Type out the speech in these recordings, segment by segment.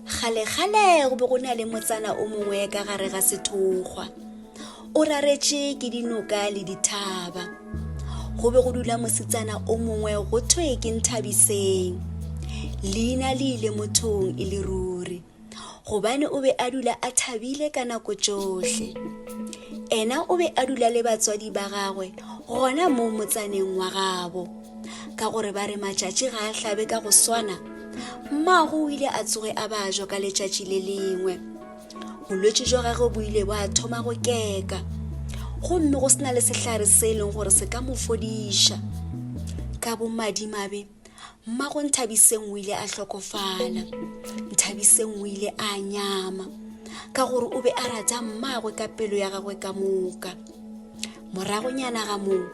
kgalekgale go be go na le motsana o mongwe ka gare ga sethokgwa o raretše ke dinoka le dithaba go be go dula mosetsana o mongwe go thwe ke nthabiseng leina le ile mothong e le ruri gobane o be a dula a thabile ka nako tšohle ena o be a dula le batswadi ba gagwe gona mo motsaneng wa gabo ka gore ba re matšatši ga a hlabe ka go swana mmago o ile a tsoge a ba jo ka letšatši le lengwe bolwetši jwa gagwe bo ile ba thoma go keka gomme go se na le sehlare se e leng gore se ka mo fodiša ka bomadimabe mmago nthabiseng o ile a hlokofala nthabiseng o ile a nyama ka gore o be a rata mmagwe ka pelo ya gagwe ka moka Moragonyana ga moo,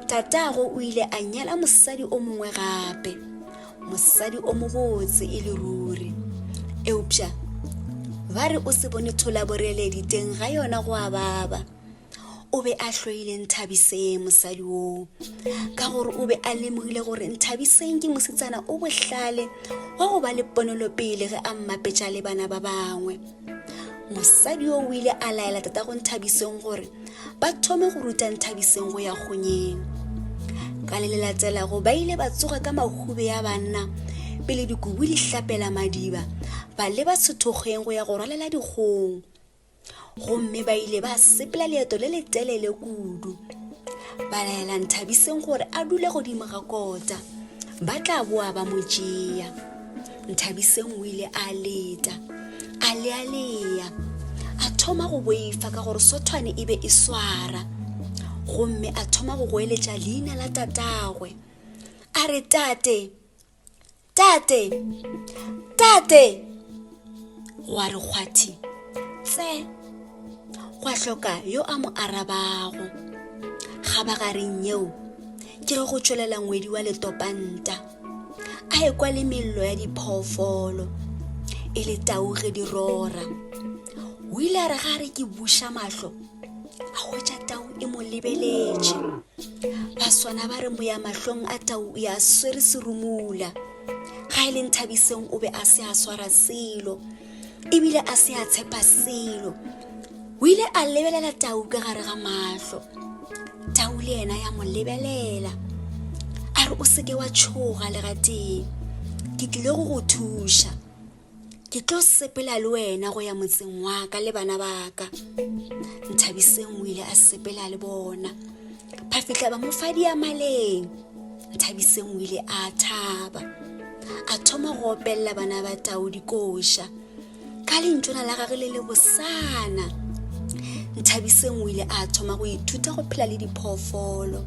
tatago o ile a nyala mosadi o mongwe gape, mosadi o mobotse e le ruri. Eupša ba re o se bone tholaboreledi teng ga yona go a baba. o be a hloile nthabiseng mosadi oo ka gore o be a lemogile gore nthabiseng ke mosetsana o bohlale wa go ba le ponelopele ge a mmapetša le bana ba bangwe mosadi yo o ile a laela tatago nthabiseng gore ba thome go ruta nthabiseng go ya kgonyeng ka le le latelago ba ile ba tsoga ka mahube ya banna pele dikubu di hlapela madiba ba leba sethokgeng go ya go rwalela dikgong gomme ba ile ba sepela leeto le letelele kudu ba laela nthabiseng gore a dule godimo ga kota ba tla boa ba mo tšea Nthabiseng o ile a leta a lealea a thoma go boifa ka gore sothwane e be e swara gomme a thoma go goeletša leina la tatagwe a re tate tate tate gwa re kgwathi tse gwa hloka yo a mo arabago ga ba gareng yeo ke re go tšwelela ngwedi wa letopanta a ekwa le mello ya diphoofolo e le tau ge di rora o ile a re ga re ke buša mahlo a hwetša tau e mo lebeletše ba swana ba re moya mahlong a tau o ya swere serumula ga e leng thabiseng o be a se a swara selo ebile a se a tshepa selo o ile a lebelela tau ka gare ga mahlo tau le yena ya mo lebelela a re o seke wa tšhoga legatee ke tlile go go thuša ke tlo sepela le wena go ya motseng wa ka le bana ba ka nthabiseng o ile a sepela le bona ba fitlha ba mo fa diamaleng thabiseng o ile a thaba a thoma go opelela bana ba tao dikoša ka lentšona la gage le le bosana nthabiseng o ile a thoma go ithuta go phela le diphoofolo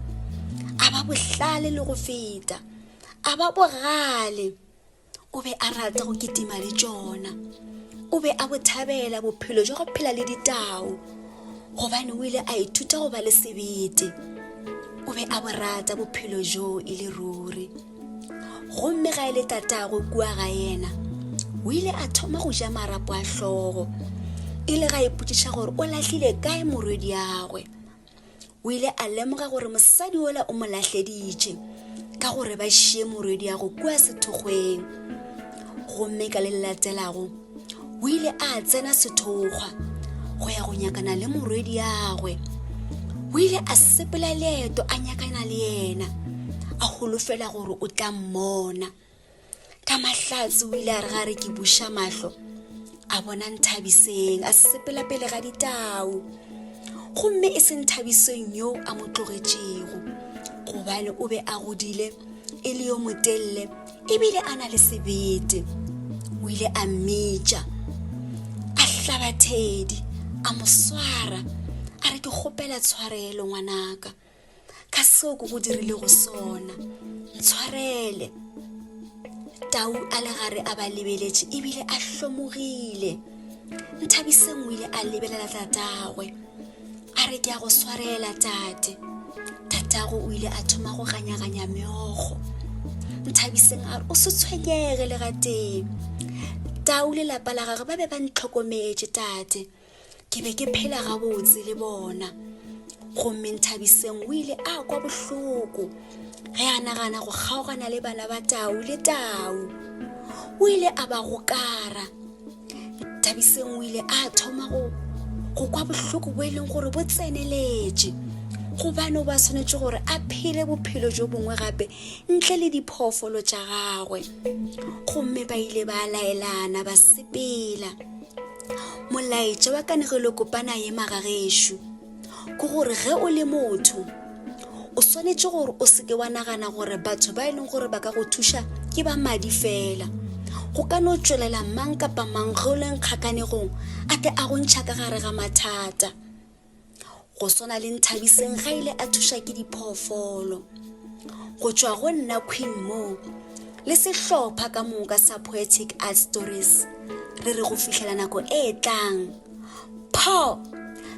a ba bohlale le go feta a ba bogale o be a rata go kitima le tšona o be a bothabela bophelo jwa go phela le ditao gobane o ile a ithuta go ba le sebete o be a borata bophelo joo e le ruri gomme ga e le tatago kua ga yena o ile a thoma go ja marapo a hlogo e le ga ipotšiša gore o lahlile kae morwediagwe o ile a lemoga gore mosadi ola o mo lahleditše ka gore ba šie morwediago kua sethokgweng gomme ka le le latelago o ile a tsena sethokgwa go ya go nyakana le morwediagwe o ile a sepela leeto a nyakana le yena a holofela gore o tla mmona ka mahlatse o ile a re ga re ke buša mahlo a bona nthabiseng a sepela pele ga ditau gomme e se nthabiseng yo a mo tlogetšego gobane o be a godile e le yo motelele ebile a na le sebete o ile a mmitša a hlaba thedi a mo swara a re ke kgopela tshwarelo ngwanaka ka seo ko go dirilego sona tshwarele tau a le gare a ba lebeletše ebile a hlomogile nthabiseng o ile a lebelela tatagwe a re ke ya go swarela tate tatago o ile a thoma go ganyaganya meokgo nthabiseng a re o se tshwenyege le gatee tau lelapa la gagwe ba be ba ntlhokometše tate ke be ke phela gabotse le bona gomme nthabiseng o ile a kwa bohloko ge a nagana go kgaogana le bana ba tau le tau o ile a ba gokara nthabiseng o ile a thoma go go kwa bohloko bo e leng gore bo tseneletše gobane o ba tshwanetse gore a phele bophelo jo bongwe gape ntle le diphoofolo tša gagwe gomme ba ile ba laelana ba sepela molaetša wa kanegelokopana ye magagešo ke gore ge o le motho o swanetše gore o seke wa nagana gore batho ba e leng gore ba ka go thuša ke ba madi fela go ka no tšwelela mang kapa mang ge o leng kgakanegong a tle a go ntšha ka gare ga mathata go swana le nthabiseng ga ile a thuša ke diphoofolo go tšwa go nna queen moo le sehlopha ka moka sa poetic art stories re re go fihlela nako e tlang pho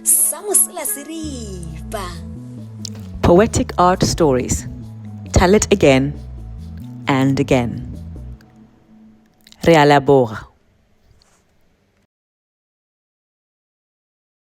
sa mosela se ripa poetic art stories tell it again and again re a leboga